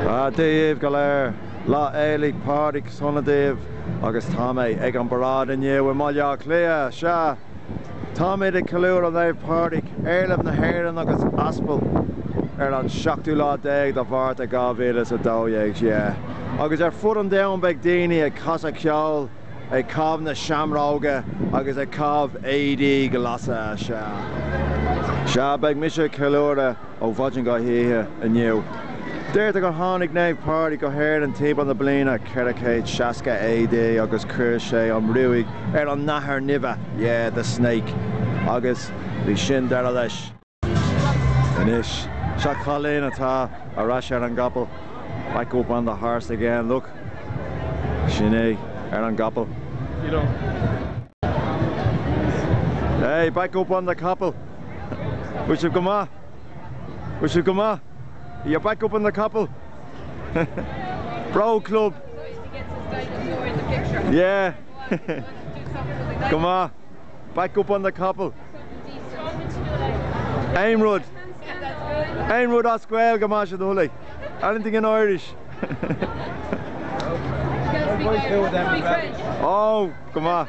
Dia daoibh go léir, Lá Fhéile Pádraig sona daoibh agus tá mé ag an bparáid inniu i mBaile Átha Cliath. Sea, táimid ag ceiliúradh Naomh Pádraig, éarlamh na hÉireann agus aspal, ar an seachtú lá déag de Mhárta 2012. Sea, agus ar fud an domhain beidh daoine ag casadh ceoil, ag caitheamh na seamróige agus ag caitheamh éadaí glasa. Sea, beidh mise ag ceiliúradh. ó mhaidin go hoíche inniu. Deirtear gur tháinig Naomh Pádraig go hÉirinn timpeall na bliana 460 AD agus chuir sé an ruaig ar an nathair nimhe, yeah, the snake, agus bhí sin deireadh leis. Anois, seo cailín atá ar ais ar an gcapall, back up on the horse again, look. Sin é, ar an gcapall. Hey, back up on the capall! Bhfuil sibh go maith? Bhfuil sibh go maith? Are you back up on the capall? Bród Club! Yeah! Go maith! Back up on the capall! Aon rud! Aon rud as Gaeilge más é do thoil é. Anything in Irish? Oh, go maith!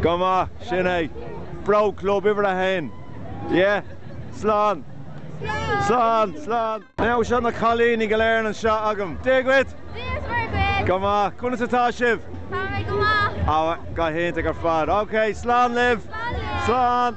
Go maith, sin é. Bród Club uimhir a haon. Yeah. Slán. Slán. Slán. Now seo na cailíní go léir anseo agam. Dia dhuit. Dia's Muire duit. Go maith. Conas atá sibh? Tá mé go maith. Go hiontach ar fad. Okay, slán libh. Slán libh. Slán.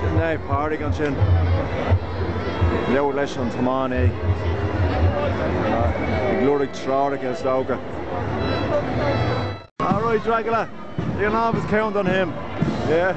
Sin Naomh Pádraig ansin. Ag labhairt leis an tiománaí, ag lorg treoracha is dócha. All right, Dracula. You can always count on him. Yeah.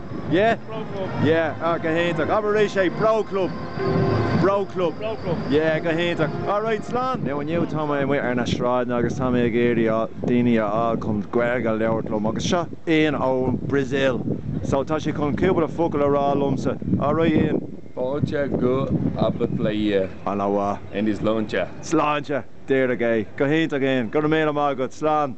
Yeah? Bród Club. Yeah, ah, go hiontach. Abair arís é, Bród Club. Bród Club. Bród Club. Yeah, go hiontach. All right, slán! Now, inniu tá mé amuigh ar na sráideanna agus tá mé ag iarraidh daoine a fháil chun Gaeilge a labhairt liom agus seo Ian ón Brazil. So, tá sé chun cúpla focal a rá liomsa. All right, Ian? Fáilte go Baile Átha Cliath. Ana mhaith. Anois, sláinte. Sláinte! There you go. Go hiontach, Ian. Go raibh míle maith agat. Slán!